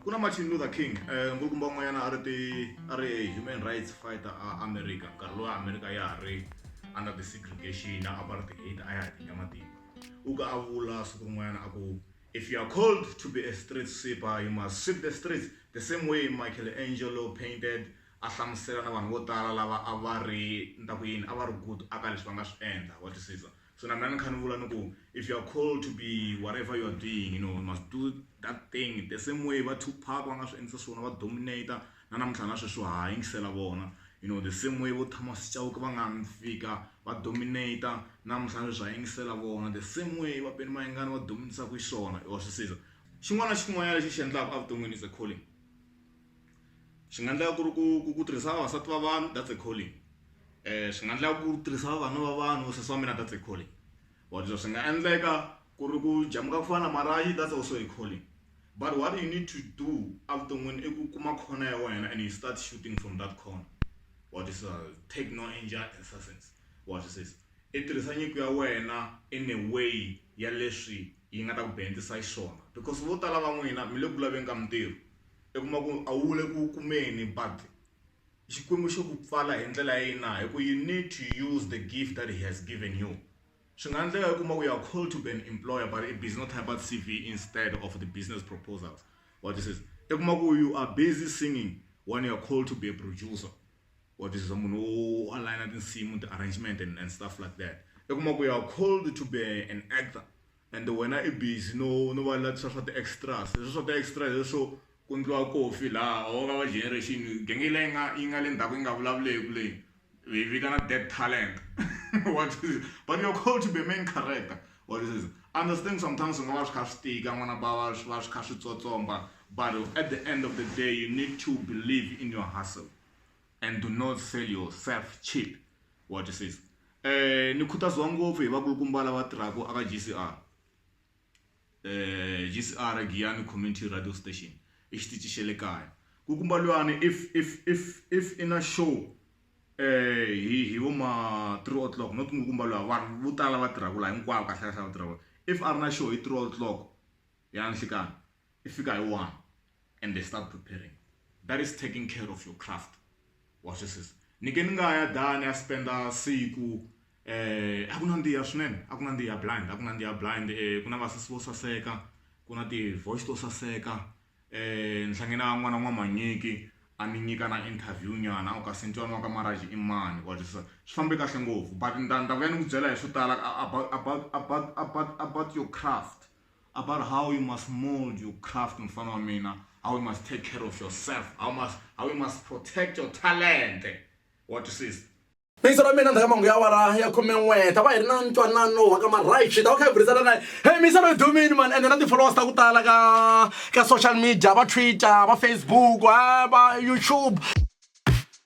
ku na martin luther king um nkulukumba un'wanyana a ri ti a ri human rights fighter a america nkarhi lowa america ya ha ri under the segregation na apartheid a ya ha tinya matimba u ka a vula siku rin'wanyana a ku if you are called to be a street sweeper you must sweep the streets the same way michael angelo painted a hlamusela na vanhu vo tala lava a va ri ni ta ku yini a va ri good aka leswi va nga swi endla wa twisisa so na mina ni kha ni vula ni ku if you are called to be whatever you are doing you know you must do that thing the same way va tupac va nga swi endlisa swona va dominator na namuntlha na sweswi ha yingisela vona you know the same way vo thomas chauke va nga mi fika va dominator namuntlha na sweswi ha yingisela vona the same way va peni mayengani va dominisa ku xiswona wa swi siza xin'wana na xin'wanyana lexi xi endlaka evuton'wini is a calling swi nga endleka ku ri ku ku ku tirhisa vavasati va vanhu that's a calling swi nga endleka ku ri tirhisa vavanuna va vanhu vo sesi wa mina that's a calling or leswi swi nga endleka ku ri ku jamuka ku fana na marayi that's also a calling but what you need to do evuton'wini i ku kuma khona ya wena and you start shooting from that corner wa tisa take no exercise wa twisisa i tirhisa nyiko ya wena in a way ya leswi yi nga ta ku benefit-a xiswona because vo tala va n'wina mi le ku laveni ka mitirho. i kuma ku a wu le ku kumeni but Xikwembu xo ku pfala hi ndlela ya yini na hi ku you need to use the gift that he has given you swi nga endleka u kuma ku you are called to be an employer but i busy no type CV instead of the business proposals what this is i kuma ku you are busy singing when you are called to be a producer what this is munhu wo aligner tinsimu ti-arrangement and, and stuff like that i kuma ku you are called to be an actor and wena i busy no no va lavisisa swa ti extras leswi swa ti extra hi leswo ku endliwa coffee laha or u nga va generation genge leyi nga yi nga le ndzhaku yi nga vulavuleki leyi hi yi vitana dead talent what is it but you're called to be a main character what is it I understand sometimes swi nga va swi kha swi tika n'wana va va swi va swi kha swi tsotsomba but at the end of the day you need to believe in your hustle and do not sell yourself cheap wa twisisa um ni khutaziwa ngopfu hi vakulukumba lava tirhaka aka g c r um g c r giyani community radio station i xitici xa le kaya ku kumba luyani if if if if i na show um hi hi vo ma three o'clock not ngo kumba luya vanhu vo tala va tirhaka laha hinkwavo kahlekahle va tirhaka if a ri na show hi three o'clock ya nhlikani i fika hi one and they start preparing that is taking care of your craft wa swi sisa ni ke ni nga ya dani a spenda siku eh a ku na ndiya swinene a ku na ndiya blind a ku na ndiya blind eh ku na vasesi vo saseka ku na ti-voice to saseka eh ni hlangene a n'wana n'wamanyiki a ni nyika na interview nyana u ka sentwana wa ka maraji i mani wa twisisa swi fambe kahle ngopfu but ni ta ni ta vuya ni ku byela hi swo tala about about about about about your craft About how you must mold your craft in front of me now. How you must take care of yourself. How must how you must protect your talent. What you see? Mixer wa mina ndhakamanga ya wara ya khume n'we ta va hi ri na ntwanano wa ka marhayixi ta va kha hi burisana naye hey mixer loyi dumini mani ende na ti-followers ta ku tala ka ka social media va twitter va facebook va youtube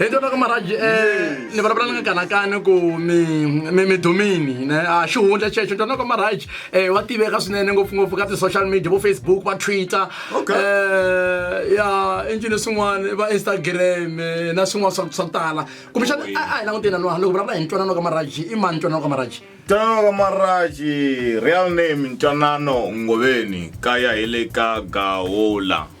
hi tona ka maraji um eh, ni vulavula ni nga kanakani ku midomini ne a ah, xihundla xexo tona ka maraji um eh, wa tiveka swinene ngopfungopfu ka ti-social media vo facebook va twitter um eh, ya injini swin'wana va instagram na swin'wana swa swa tala kumbexana a hi languteni na nwana loko vulavula hi ntwanano ka maraji i mani ntwanano ka maraji ntwanano ka maraji real name ntwanano ngoveni kaya hi le ka gaola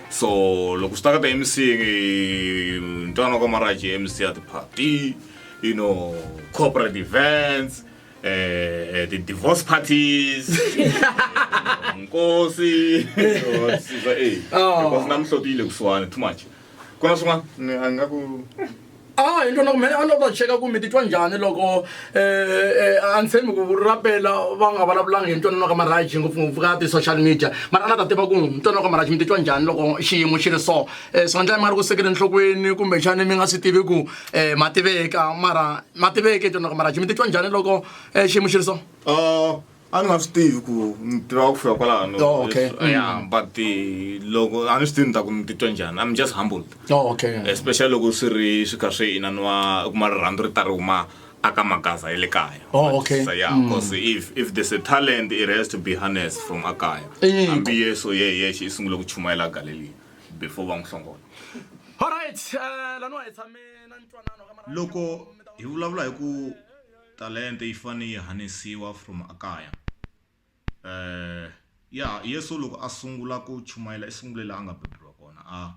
so loko swi ta ka ta mc ntwana ka maraji mc ya ti-party you know corporate events eh, eh, ti-divorce parties nkosi sisa e Oh. because na mihloti yi le kusuhani too much ku na swin'wana Ni- a ni nga ku a ah, hi ntwana ku mene a ni ta cheka ku mi titwa njhani loko um eh, eh, a ni tshembi ku rapela va nga vulavulanga hi ntwanano ka maraji ngopfungopfu ka ti-social media mara a ni ta tiva ku ntwanano ka maraji mi titwa njhani loko xiyimo xi ri so um eh, swi nga ndlaya mi nga ri ku sekele nhlokweni kumbe xani mi nga swi tivi ku um ma tiveka mara ma tiveke ntwanano ka maraji mi titwa njhani loko um xiyimo xi ri so ah, a ni nga swi tivi ku ni tiva ku fika kwalano Oh, okay. Leswi- Mm. yeah, but eh, loko a ni swi tivi ni ta ku ni titwa njhani i'm just humbled Oh, okay. especially loko swi ri swi kha swi inaniwa u kuma rirhandzu ri ta ri huma aka magaza ya le kaya Oh, okay. So, yeah Mm. because if if there's a talent it has to be harnessed from akaya Eh, hambi yesu ye yexe i sungule ku chumayela galileya before va n'wi hlongola Alright, eh, laniwa hi tshame na ntwanano ka mara- loko hi vulavula hi ku Talente yi fane yi hanisiwa from a kaya. Eeh yeah Yesu loko a sungula ku chumayela i sungule la a nga beburiwa kona a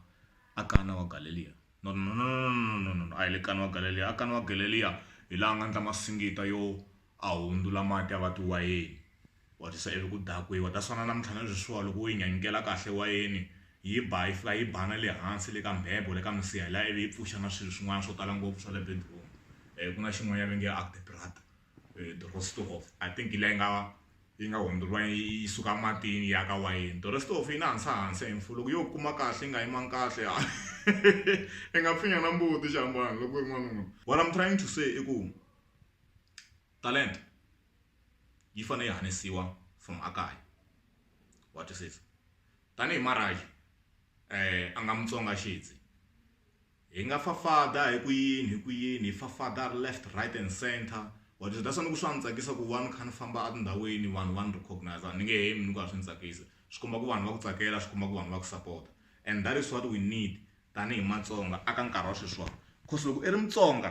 a Kana wa Galeliya no no no no no no a hi le Kana wa Galeliya a Kana wa Galeliya hi la a nga ndla masingita yo a hundzula mati a va tiwayeni Wa tisa ivi ku dakiwa. Ta swana namuntlha na sweswiwa loko wo yi nyanyukela kahle wayeni yi ba yi fika yi ba na le hansi le ka mbhebho le ka misiha liya ivi yi pfuxa na swilo swin'wana swo tala ngopfu swa le bedroom ku na xin'wanyana va nge Agdebrad Dorostorhoef I think hi liya yi nga yi nga hundzuriwa yi suka matini ya ka wayeni Dorostorhoef yi na hansa hansi and for loko yo kuma kahle yi nga yimanga kahle i nga pfinya na mbuti xiambalo loko u ri n'wanuna what am trying to say i ku talenta yi fanele yi hanesiwa from a kaya wa twisisa tanihi marayi a nga mutsonga xidzi hi nga fafada hi ku yini hi ku yini hi fafada left right and center wa twisisa that's why ni ku swa ni tsakisa ku va ni kha ni famba etindhawini vanhu va ni recognize ni nge hemi ni ku a swi ni tsakisa swi komba ku vanhu va ku tsakela swi komba ku vanhu va ku sapota and that is what we need tanihi matsonga aka nkarhi wa sweswiwani cause loko i ri mutsonga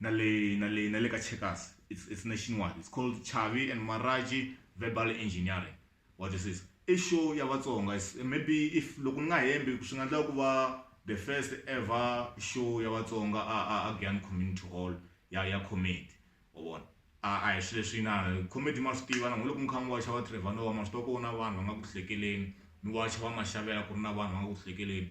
na le na le na le ka checkers it's it's nationwide it's called chavi and maraji verbal engineering wa twisisa i show ya vatsonga maybe if loko ni nga hembi swi nga endla ku va the first ever show ya vatsonga a a a Gyan community hall ya ya comedy u vona a a hi swilo leswi na comedy ma swi tiva na loko mi kha mi waxa va Trevor Noah ma swi tiva ku na vanhu va nga ku hlekeleni mi waxa va maxavela ku ri na vanhu va nga ku hlekeleni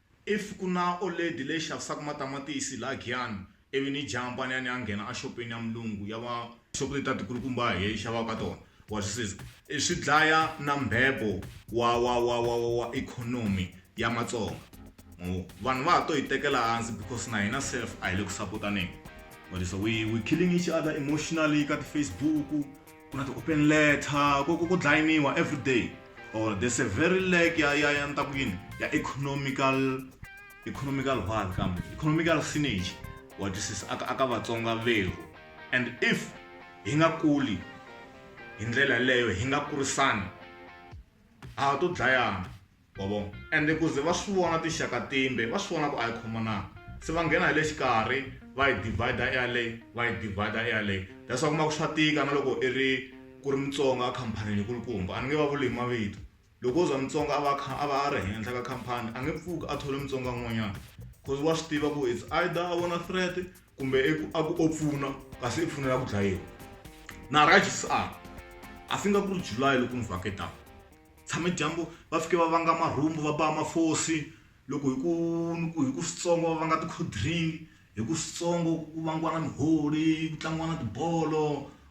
If ku na oledi leyi xavisaka matamatisi laha Giyani, ivi ni jaha mpanani a nghena a xopeni ya mulungu ya va. Xopo leti ta tikulukumba a hi xavaka ka tona, wa swi siza. Swi dlaya na mbhebo wa wa wa wa wa wa ikhonomi ya Matsonga. Ma vo? Vanhu va ha to hi tekela hansi because na hina sef a hi le ku sapotaneni. Wa tisa? We we killing each other emotionally ka ti-Facebook. ku na ti-open letter ku ku ku dlayiniwa everyday or there's a very leg ya ya ya ni ta ku yini ya economical economical one kambe economical synergy wa twisisa aka aka vatsonga vehu and if hi nga kuli hi ndlela leyo hi nga kurisani a to dlayana wa vona ende ku ze va swi vona tinxaka timbe va swi vona ku a yi khomananga se va nghena hi le xikarhi va yi divider eyaleyi va yi divider eyaleyi that's why kuma ku swa tika na loko i ri ku ri mutsonga a khamphanini kulukumba a ni nge va vuli hi mavito loko o za mutsonga a va a va a ri henhla ka khampani a nge pfuki a thole mutsonga un'wanyana cause wa swi tiva ku it's either a vona threat kumbe i ku a ku o pfuna kasi i pfunela ku dlayiwa na rajs a a swi nga ku ri july loko ni vhaketaka tshame dyambu va fike va vanga marhumbu va ba mafosi loko hi ku ni ku hi ku switsongo va vanga ti-cold drink hi ku switsongo ku vangiwa na miholi ku tlangiwa na tibolo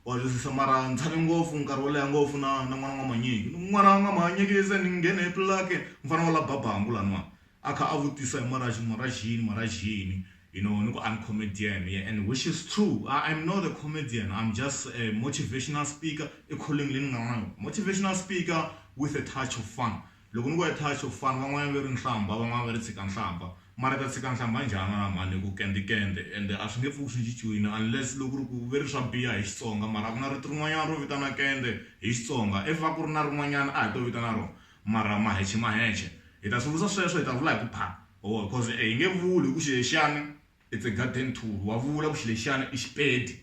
wa twisisa mara ni tshame ngopfu nkarhi wo leha ngopfu na na n'wana n'wamanyeki ni n'wana n'wamanyekise ni nghene hi pulake mufana wa la ba bangi laniwani A kha a vutisa hi Moraji, Moraji yini, Moraji yini, you know, ni ku I'm comedian, yeah, and which is true, I am not a comedian, I'm just a motivational speaker, i calling leyi ni nga na yona, motivational speaker with a touch of fun. Loko ni ku a touch of fun, van'wanyana va ri nhlambha, van'wana va ri tshika nhlambha, mara ta tshika nhlambha njhani wena mhani, ku kende kende, ende a swi nge pfuki swi cinciwile unless loko ku ri ku ve ri swa biha hi Xitsonga, mara a ku na rito rin'wanyana ro vitana kende hi Xitsonga, if a ku ri na rin'wanyana a hi to vitana rona. Mara Maheche Maheche hi ta swi vutisa sweswo hi ta vula hi ku pha or coz hi nge vuli hi ku Xilexani it's a garden tool wa vula ku Xilexani i Xipedi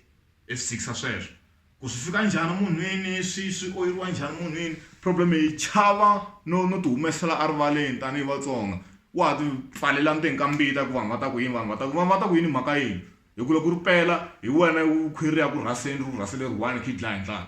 i swi tshikisa sweswo ku swi fika njhani munhwini swi swi oyeriwa njhani munhwini problem hi chava no no ti humesela a rivaleni tanihi Vatsonga wa ha ti pfalela ndzeni ka mbita ku vanhu va ta ku yini vanhu va ta ku vanhu va ta ku yini hi mhaka yini hi ku loko ri pela hi wena khwiri ri ya ku rhaseni ri ku rhasele ri one kha yi dlaya hi ndlala.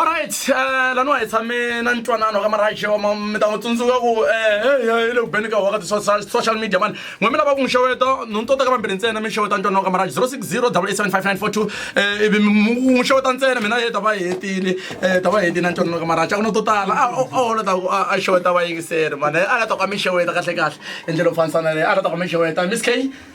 olright um eh, laniwa hi tshame na ntwanano ka marajewa mi ta n'wi tsundzuka ku um eh, i le ku beni ka waka ti-social media mani n'we mi lava ku n'wi xeweta no ni tota ka vambirhi ntsena mi xeweta ntwanano ka maraje zero six zero double eight seven five nine four two um ivi n'wi xeweta ntsena mina ye ta va hetile um ta va hetile na ntwanano ka maraje a ku no to tala a holo ta ku a xeweta vayingiseri mani a la ta ku a mi xeweta kahle kahle hi ndlela yo fanisana leyi a la ta ku a mi xeweta miss k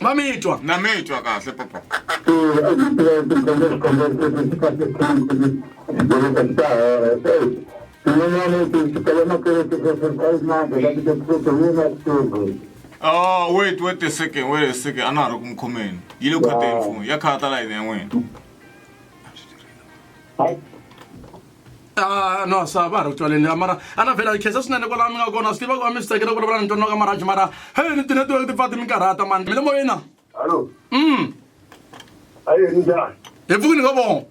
va mi twa na mi twa kahle papa Oh, wait, wait a second, wait a second. A na ha ri ku mi khomeni. Yi le khoteni foni. Ya khata layini ya n'wina. Ah, no sa va ha ri ku twaleni liya mara a na vhela khesa swinene kwalaha mi nga kona swi tiva ku va mi swi tsakela ku vulavula ni twanaka maraji mara hey ni tinetiweke ti pfa ti mi karhata mani mi le moyeni na Hallo, mm aye njhani? hi pfukini ka vona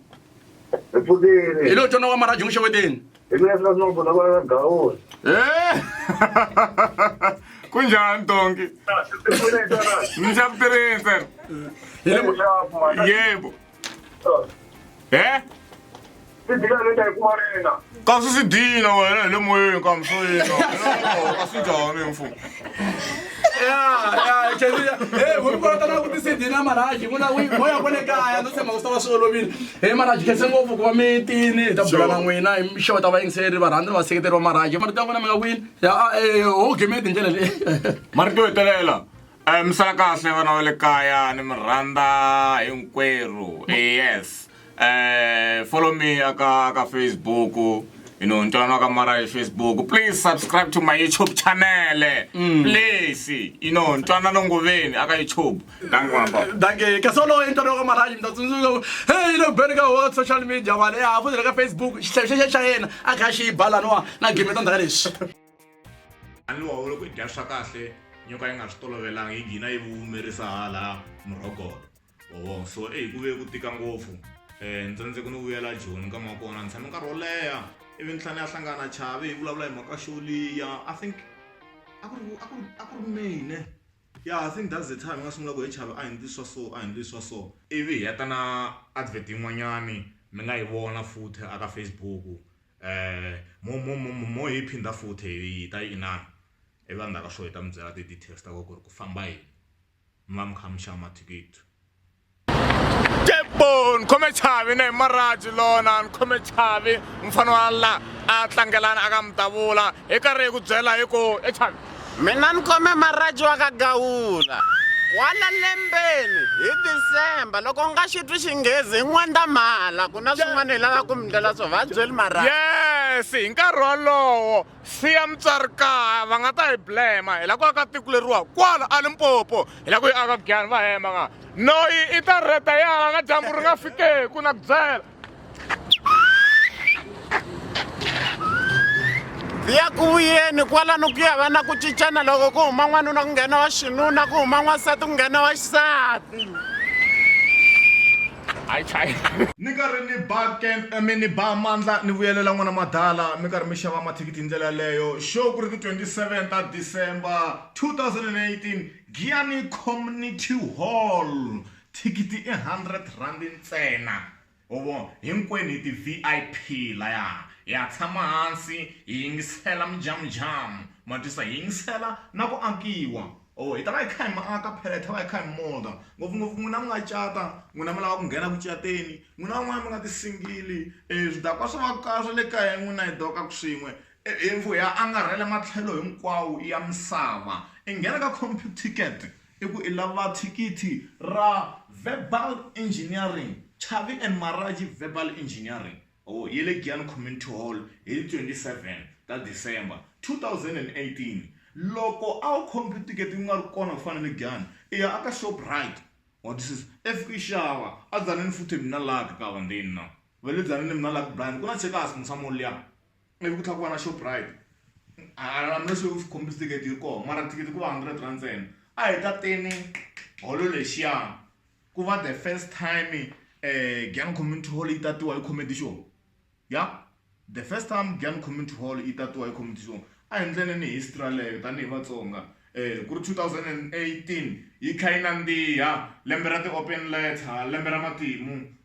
Hi pfukile. hi lo twanaka maraji n'wi xeweteni Hi mina swi nga vona va gawula. Eh! ku njhani donki Swi pfune hi tona. ni xa ku tirhisa Hi le mo- Leswaku mali- yebo e kasi swi dina wena hi le moyeni kambe swo yina ka swi njhani mfumo vukolota na kutisidi na maraji vula moya ku le kaya no tshemba ku swi ta va swi olovile he maraji khense ngopfu ku va mi tini hi ta bula na n'wina hi mixo ta vayingiseri varhandzi ni vaseketeri va maraji marito ya n'wina mi nga kwini ho gemeti hi ndlela leyi marito yo hetelela Eh, mi sala kahle vana va le kaya ni mi rhandza hinkwerhu eh, yes um follow me aka ka facebook you know ntwana wa ka mara hi facebook please subscribe to my youtube channel mm. please you know ntwana nongoveni aka youtube danke kasi oloye ntwana wa ka maraji mi ta tsundzuka hey you know beni ka wa social media wale ya ha fuzile ka facebook xihlavi xexe xa yena a kha xi balaniwa na game ta ndhaka lexi a ni wa vula ku dya swa kahle nyoka yi nga swi tolovelanga yi gina yi vumerisa hala murhogolo oo so eyi ku ve ku tika ngopfu um ni tsandzeko ni vuyela joni ka ma kona ni tshame nkarhi wo leha ivi ni tlhela ni ya hlangana chavi hi vulavula hi mhaka xoliya i think a ku ri a ku ri a ku ri mine ya i think that's the time hi nga sungula ku hi chavi a hi ndli swa so a hi ndli swa so ivi hi ya ta na advert yin'wanyani mi nga yi vona futhi a ka facebook mo mo mo mo hi phinda futhi hi ta yi inana ivi va ndzhaka swo hi ta mi byela ti-details ta ko ku ri ku famba yini mi va mi kha mi xava mathikithi kebon khome chavi ne maraji lona ni khome chavi mufana wa la a tlangelana a ka mi davula hi karhi hi ku byela hi ku e chavi Mina ni khome maraji wa ka Gawula kwala lembeni hi December loko nga xi twi Xinghezi hi N'wendzamhala ku na swin'wana hi lava ku mi ndlela swo va byeli maraji. Yes, hi nkarhi wolowo siya mutswari kaya va nga ta hi blema hi la ku aka tiko leriwa kwala a Limpopo hi la ku yi aka Giyani va hemba nga noyi i ta reta yala na dyambu ri nga fikeku na ku byela ya ku vuyeni kwalano ku ya va na ku cincana loko ku huma n'wanuna ku nghena wa xinuna ku huma n'wansati ku nghena wa xisati ni karhi ni ba camp eh, mi ni ba mandla ni vuyelela n'wana madala mi karhi mi xava mathikithi hi ndlela yaleyo show ku ri ti 27 ta december 2018 giyani community hall Thikithi i hundred rand ntsena ho vo hinkwenu hi ti V_I_P laya hi ya tshama hansi hi yingisela mujamujamu ma twisa hi yingisela na ku akiwa or hi ta va hi kha hi mi aka phela hi ta va hi kha hi mi molder ngopfungopfu n'wina mi nga cata n'wina mi lava ku nghena ku cateni n'wina van'wana mi nga ti single swidakwa swa va ka swa le kaya n'wina hi doka ku swin'we hi ya angarhela matlhelo hinkwawo ya misava i nghena ka Computicket. I ku i lava thikithi ra Verbal Engineering, Chavi and Maraji Verbal Engineering, or ya le Giyani Community Hall hi 27 ta December 2018. Loko a wu khomi ticket u nga ri kona ku fana ni Giyani, i ya aka Shoprite, wa twisisa, i fika i xava. A Dzanani futhi mina laha ka Kavandeni na va le Dzanani mina laha ka Brian ku na Checkers Musamoli liya. I vi ku tlhela ku va na Shoprite hambileswi u khombisa thikithi yi ri kona mara thikithi ku va hundred rand ntsena a hi tateni holo lexiya ku va the first time Giyani Community Hall yi tatiwa hi Comedy Show ya the first time Giyani Community Hall yi tatiwa hi Comedy Show a hi endleni history yaleyo tanihi Vatsonga ku ri two thousand and eighteen yi tlhela yi nandziha lembe ra ti-open letter lembe ra matimu.